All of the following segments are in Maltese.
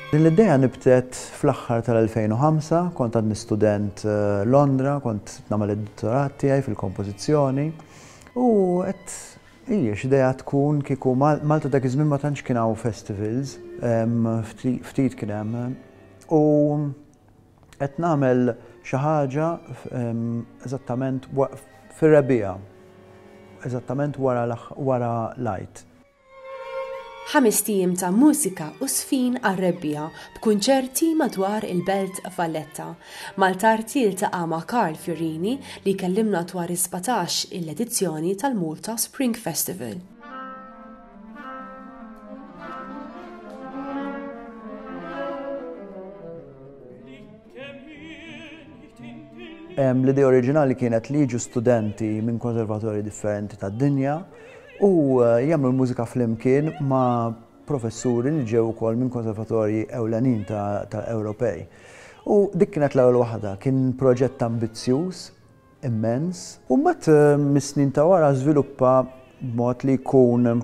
Din l-idea nibtet fl-aħħar tal-2005, kont għadni student eh, Londra, kont nagħmel id-dottorat tiegħi fil-kompożizzjoni u qed hija x'idea tkun kieku Malta dak iż-żmien ma tantx kien hawn festivals, ftit kien hemm. U Qed nagħmel xi ħaġa eżattament fir-rebbiegħa, eżattament wara l-Għid. Ħamest ijiem ta' mużika u żfin għar-rebbiegħa b'kunċerti madwar il-Belt Valletta. Maltart jiltaqa' ma' Karl Fiorini li jkellimna dwar is-sbatax il edizzjoni tal-Malta Spring Festival. L-idea oriġinali kienet li jiġu studenti minn konservatorji differenti tad-dinja u eh, jagħmlu l-mużika flimkien ma' professuri li ġew ukoll minn konservatorji ewlenin ta' Ewropej. U dik kienet l-ewwel waħda, kien proġett ambizzjuż immens. U mbagħad mis-snin ta' wara żviluppa b'mod li jkun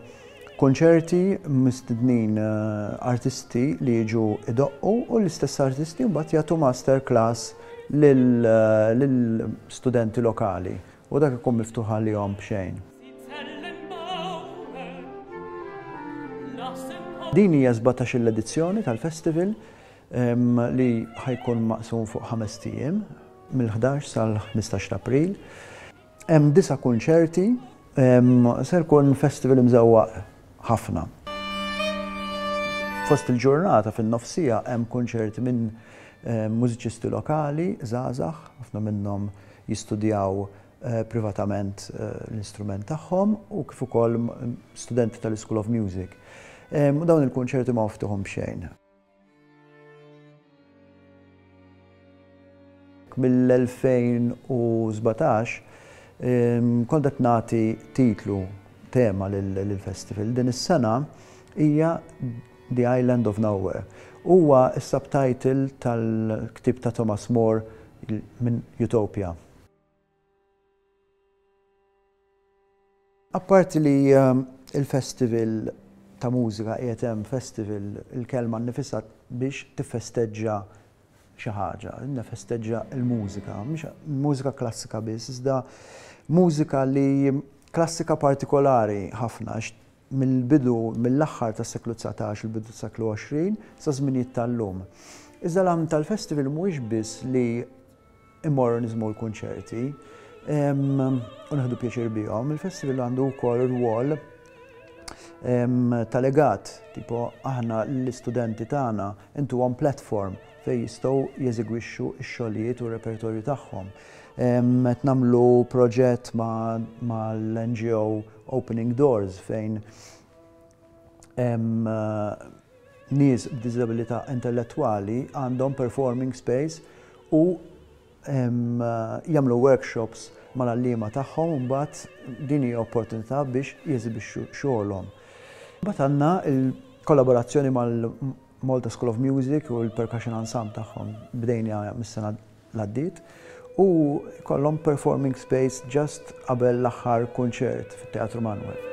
kunċerti mistednin artisti li jiġu jdoqqu u l-istess artisti mbagħad jagħtu master class lil studenti lokali u dak ikun miftuħ għalihom b'xejn. Din hija s-sbatax-il edizzjoni tal-festival li ħa jkun maqsum fuq ħamest ijiem, mill-ħdax sal-ħmistax ta' April. Hemm disa' kunċerti, ser ikun festival imżewwaq ħafna. Fost il-ġurnata fin-nofsiegħa hemm kunċerti minn mużiċisti lokali żgħażagħ, ħafna minnhom jistudjaw privatament l-istrument tagħhom u kif ukoll studenti tal-Ischool of Music. U dawn il-kunċerti ma miftuħin b'xejn. Mill-2017 kont qed nagħti titlu, tema lill-festival. Din is-sena hija The Island of Nowhere. Huwa s-subtitle tal-ktieb ta' Thomas Moore minn Utopia. Apparti li l-festival ta' mużika qiegħed hemm, festival, il-kelma nnifisha biex tiffesteġġa xi ħaġa, nifesteġġa l-mużika, mhux mużika klassika biss, iżda mużika li klassika partikolari ħafna għax mill-bidu, mill-aħħar tas-seklu dsatax, il-bidu tas-seklu għoxrin, sa żminijiet tal-lum. Iżda l-għan tal-festival mhuwiex biss li immorru niżmu l-kunċerti u naħdu pjaċir bihom, il-festival għandu wkoll rwol ta' legat, tipo aħna l-istudenti tagħna intuhom platform fejn jistgħu jeżegwixxu x-xogħlijiet u r-repertorju tagħhom. Qed nagħmlu proġett mal-NGO Opening Doors fejn nies b'diżabilità intellettwali għandhom performing space u jagħmlu workshops mal-għalliema tagħhom u mbagħad din hija opportunità biex jeżibixxu xogħolhom. Mbagħad għandna l-kollaborazzjoni Malta School of Music u l-Percussion Ensemble tagħhom bdejniha mis-sena l-għaddiet u jkollhom performing space just qabel l-aħħar kunċert fit-Teatru Manwel.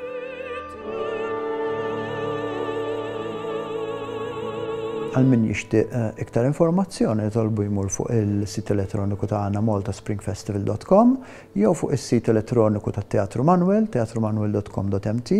Għal min jixtieq eh, iktar informazzjoni jitolbu jmur fuq il-sit elettroniku tagħna maltaspringfestival.com jew fuq is-sit elettroniku tat-Teatru Manwel, teatrumanwel.com.mt